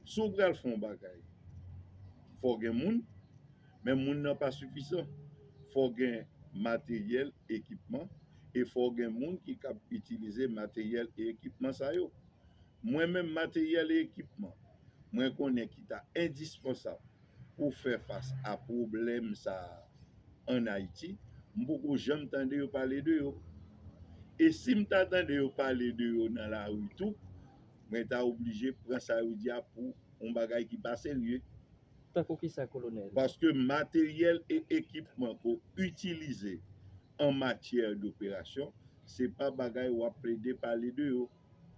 Si w pral fè yon bagay, fò w gen moun, men moun nan pa sifisan. Fò w gen materyèl, ekipman, e fò w gen moun ki kab itilize materyèl e ekipman sa yo. Mwen menm materyèl e ekipman mwen konnen ki ta endispansab pou fè fas a pwoblèm sa a ann Ayiti, m poko janm tande yo pale de yo. E si m ta tande yo pale de yo nan lari tou, Mwen ta oblije pran sa yo di a pou yon bagay ki pa serye. Tankou kisa kolonèl? Paske materyèl e ekipman ke w itilize an matyè doperasyon, se pa bagay w ap plede pale de yo.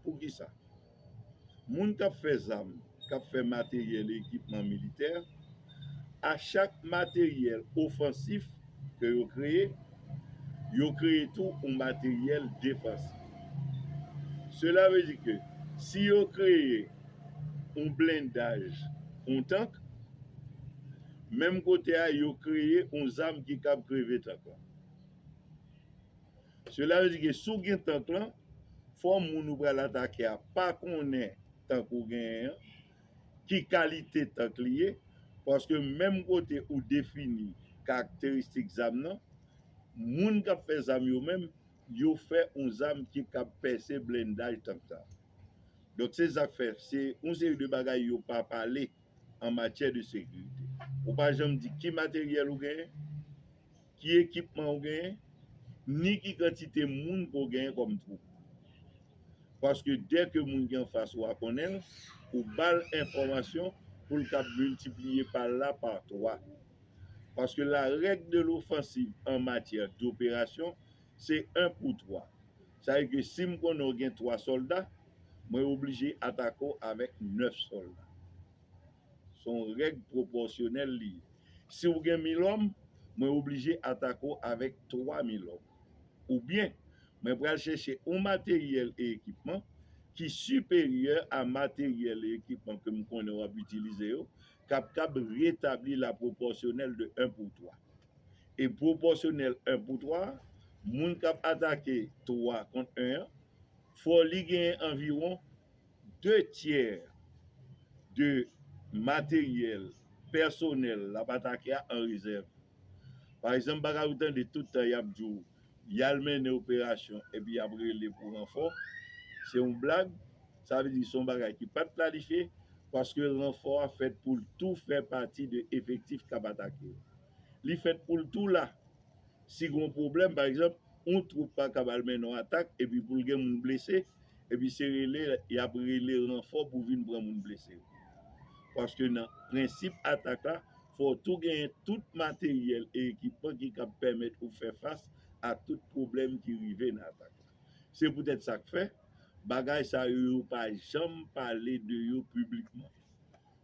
Poukisa? Moun k ap fè zam, k ap fè materyèl e ekipman militè, a chak materyèl ofansif ke yo kreye, yo kreye tou yon materyèl defansif. Sela vle di ke si yo kreye yon blendaj, yon tank, menm kote a yo kreye yon zam ki kab kreve tank lan. Sela vle di ke si w gen tank lan, fò moun ou pral atake a pa konnen tank ou genyen an, ki kalite tank li ye, paske menm kote ou defini karakteristik zam nan, moun k ap fè zam yo menm, yo fè yon zam ki kab pèse blendaj tank sa. Donk se sa k fè se yon seri de bagay yo pa pale an matyè de sekirite. Ou pa janm di ki materyèl ou genyen. Ki ekipman ou genyen, ni ki kantite moun ke w genyen kòm twoup. Paske dèke moun ki anfas ou a konnen l, ou ba l enfòmasyon pou l kab miltipliye pa l la pa twa. Paske la règ de lofansiv an matyè doperasyon se en pou twa. Sa vle di ke si m konnen ou gen twa sòlda, mwen oblije atake w avèk nèf sòlda. Se yon règ pwopòsyonèl li ye. Si ou gen mil òm, mwen oblije atake w avèk twa mil òm. Oubyen, mwen pral chèche yon materyèl e ekipman ki siperyè a materyèl e ekipman ke m konnen w ap itilize yo, k ap kab retabli la pwopòsyonèl de 1 pou 3. E pwopòsyonèl 1 pou 3 a, moun k ap atake 3 kont 1 an, fò li genyen anviwon 2 tyè de materyèl pèsonèl lap atake a an rezèv. Pa egzanp bagay ou tande tout tan yap di w yal mennen operasyon epi yap rele pou ranfò, se yon blag, sa vle di se yon bagay ki pat planifye paske ranfò a fèt pou l tou fè pati de efektif kap atake yo. Li fèt pou l tou la. Si gen yon pwoblèm, pa egzanp, yon twoup pa kab al mennen yon atak epi pou l gen moun blese, epi se rele y ap rele ranfò pou vin pran moun blese yo. Paske nan prensip atak la, fò w tou genyen tout materyèl e ekipman ki kab pèmèt ou fè fas a tout pwoblèm ki rive nan atak la. Se poutèt sa k fè, bagay sa yo yo pa janm pale de yo piblikman.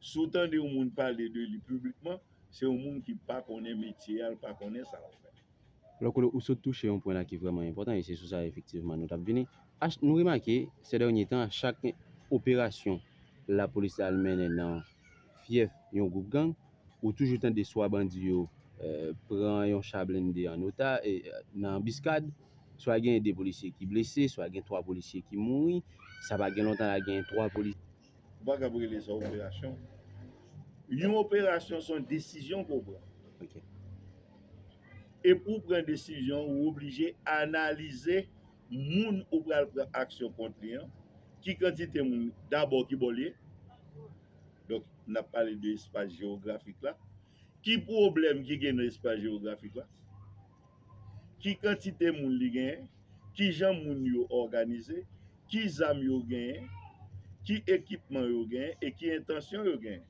Si w tande yon moun pale de li piblikman, se yon moun ki pa konnen metye a, li pa konnen sa l ap fè. Lò Colo, ou sot touche yon pwen la ki vrèman enpòtan e se sou sa efektivman nou t ap vini. Nou remake, sè dènye tan, chak gen operasyon lapolis la al mennen nan fyèf yon gwoup gang, ou toujou tande swa bandi yo pran yon cha blende an ota, nan anbiskad, swa genyen 2 polisye ki blese, swa gen 3 polisye ki mouri. Sa pa gen lontan la genyen 3 polisye. Ou pa kab rele sa operasyon. Yon operasyon se yon desizyon ke w pran. Ok. E pou w pran desizyon, ou oblije analize moun ou pral pran aksyon kont li an, ki kantite moun, dabò ki bò l ye, donk n ap pale de espas jewografik la, ki pwoblèm ki gen nan espas jewografik la. ki kantite moun li genyen, ki jan moun yo òganize, ki zam yo genyen, ki ekipman yo genyen e ki entansyon yo genyen.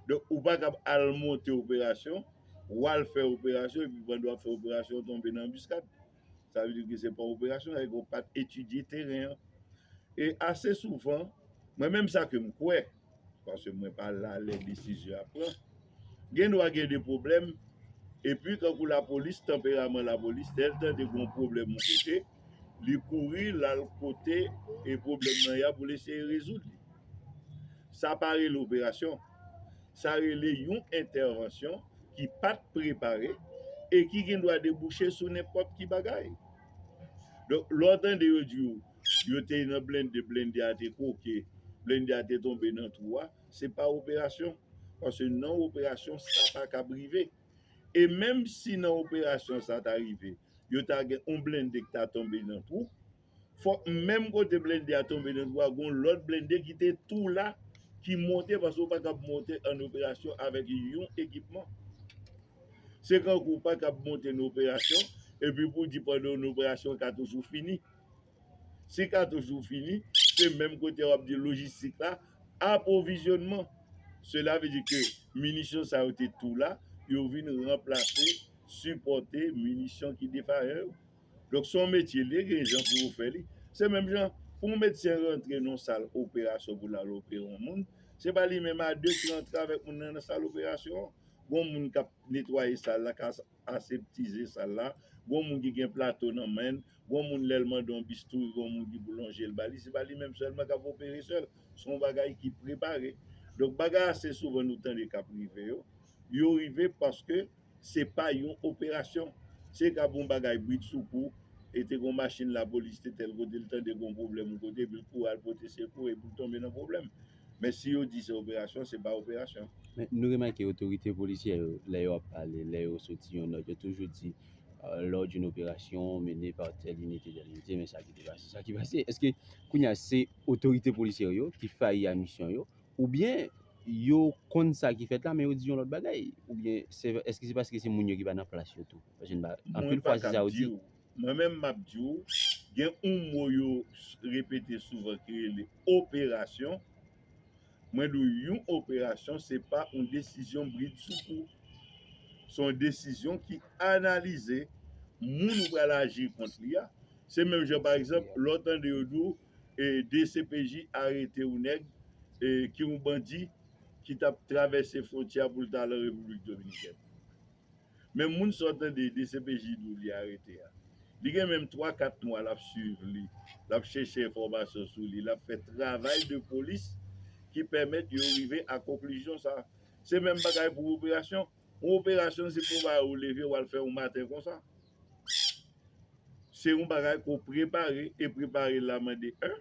Donk ou pa kab al monte operasyon, w al fè operasyon epi pandan w ap fè operasyon w tonbe nan anbiskad. Sa vle di ke se pa yon operasyon, sa vle di ke w pa t etidye teren an. E ase souvan, mwen menm sa ke m kwè, Paske mwen pa la lè desizyon ap pran. Gen dwa gen de pwoblèm. Epi tankou lapolis, tanperaman lapolis, lè l tande gen yon pwoblèm yon kote, li kouri, l al kote e pwoblèm nan ye a pou l eseye rezoud li. Sa pa rele operasyon. Sa rele yon entèvansyon ki pa t prepare e ki gen dwa debouche sou nenpòt ki bagay. Donk, lè w tande yo di w, Yo te nan blende, blende a te kwoke, blende a te tonbe nan twou a, se pa operasyon. Paske nan operasyon sa pa kab rive. E menm si nan operasyon sa ta rive, yo ta gen yon blende ki ta tonbe nan twou, fòk menm kote blende a tonbe nan twou a gen yon lòt blende ki te tou la ki monte paske ou pa kab monte ann operasyon avèk yon ekipman. Se kankou ou pa kab monte nan operasyon epi pou w di pandan yon operasyon katouch ou fini. Si katouch ou fini, se menm kote wap di lojistik la, apwovizyonman. Sela vle di ke minisyon sa yo te tou la, yo vin ranplase, sipòte minisyon ki defayan yo. Donk se yon metye li, gen jan pou yo fè li. Se menm jan, pou yon medsen rantre nan yon sal operasyon pou l al opere yon moun, se pa li menm a de ki rantre avèk moun nan nan sal operasyon an. Gen yon moun kap netwaye sal la, kap aseptize sal la, gen yon moun ki gen plato nan men l. Gon moun lèl mande yon bistouri gon moun ki pou lonjel bali se pa li menm sèlman kap opere sèl se yon bagay ki prepare donk bagay ase souvan nou tande kap rive yo yo rive paske se pa yon operasyon se kab yon bagay brid sou kou e te gon machin lapolis te tèl kote li tande gon pwoblèm yon kote epil kouri al pote sekou epil tonbe nan pwoblèm men si yo di se operasyon se pa operasyon. Men nou remake otorite polisyè yo lè yo ap pale lè yo soti yon nòt yo toujou di lò d'une operasyon mene pa tèl inite tèl inite men sa ki te pase sa ki pase eske kounye a se otorite polisyè yo ki fayi a misyon yo oubyen yo konn sa ki fèt la men yo di yon lòt bagay oubyen se eske se paske se moun yo ki pa nan plas yo tou paske n pa anpil fwa se sa yo di Mwen menm m ap di w gen yon mo yo repete souvan ki rele operasyon Mwen di w yon operasyon se pa yon desizyon bridsoukou. Se yon desizyon ki analize moun ou pral aji kont li a. Se menm jan pa egzanp lè w tande yo di w dcpj arete yon nèg ki yon bandi ki t ap travèse fwontyè a pou l t al an Repiblik Dominikèn. Men moun sa w tande dcpj di w li arete a. Li gen menm 3, 4 mwa l ap swiv li, l ap chèche enfòmasyon sou li, l ap fè travay de polis ki pèmèt yo rive a konklizyon sa. Se menm bagay pou operasyon. Yon operasyon se pou bagay ou leve w al fè yon maten konsa. Se yon bagay ke w prepare e prepare la mande 1.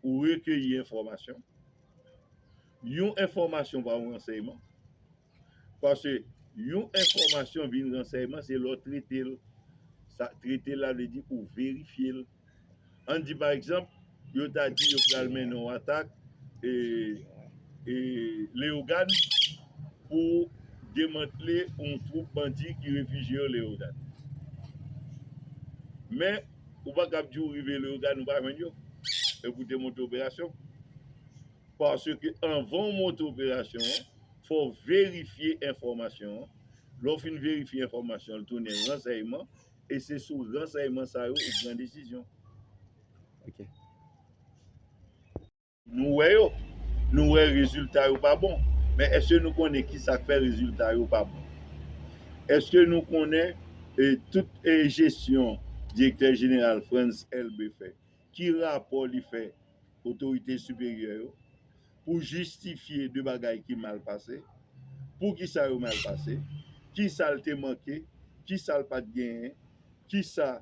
Ou rekeyi enfòmasyon. Yon enfòmasyon pa yon ransèyman. Paske yon enfòmasyon vin ransèyman se lè w trete l. Sa trete l la vle di ou verifye l. An n di pa egzanp, yo ta di yo pral mennen yon atak e e Leyogàn pou demantle yon twoup bandi ki refijye yo Leyogàn. Men, ou pa kab di ou rive Leyogàn ou pa jwenn yo. Epi ou te monte operasyon. Paske anvan ou monte operasyon an. fò w verifye enfòmasyon an, lè w fin verifye enfòmasyon an l tounen ransèyman e se sou ransèyman sa yo ou pran desizyon. Nou wè yo, nou wè rezilta yo pa bon, men èske nou konnen ki sa k fè rezilta yo pa bon? Èske nou konnen tout jesyon Direktè Jeneral Frantz Elbé fè, Ki rapò li fè otorite siperyè yo pou jistifye de bagay ki mal pase, pou ki sa yo mal pase, ki sa l te manke, ki sa l pa t genyen, ki sa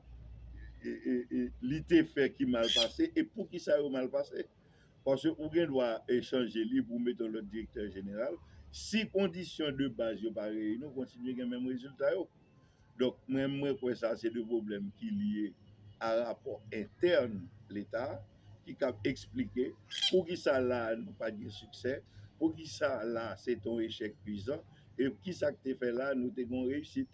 li te fè ki mal pase e pou ki sa yo mal pase. Paske ou gen dwa chanje li pou mete yon lòt direktè jeneral, si kondisyon de baz yo pa reyini ou kontinye gen menm rezilta yo. Donk mwen mwen kwè sa se de pwoblèm ki lye a rapò entèn leta ki kab eksplike poukisa la a nou pat gen siksè, poukisa la a se te yon echèk kwizan e kisa k te fè la a nou te gen yon reyisit.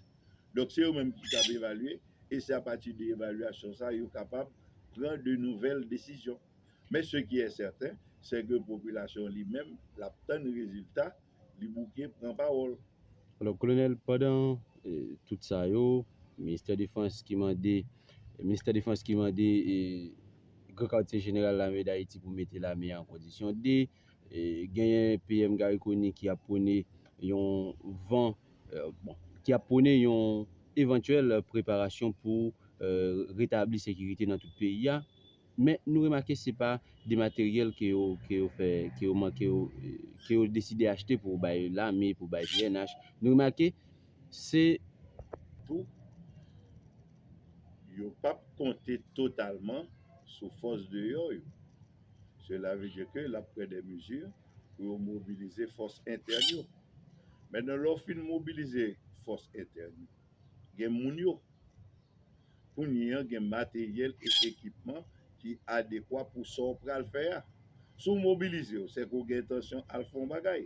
Donk se yo menm ki kab evalye e se apati de evalyasyon sa a yo kapab pran de nouvèl desizyon. Men se ki è sèten sè ke popilasyon li menm l ap tann rezilta Li bouke pran pawòl. Alò kolonèl pandan tout sa yo ministè defans ki mande ministè defans ki mande gran katye jeneral lame dayiti pou mete lame an kondisyon de genyen PM Garry Conille ki ap pwone yon van bon ki ap pwone yon evantyèl preparasyon pou retabli sekirite nan tout peyi a. Men nou remake se pa de materyèl ke yo ke yo fè ke yo man ke yo ke yo deside achte pou bay lame pou bay pnh nou remake se tou yo pap konte totalman sou fòs deyò yo sela vle di ke lap pran de mezi pou yo mobilize fòs entèn yo men nan lè w fin mobilize fòs entèn yo. Gen moun yo. Kounye an gen materyèl e ekipman ki adekwa pou sa w pral fè a. Si w mobilize w, se ke w gen entansyon al fè yon bagay.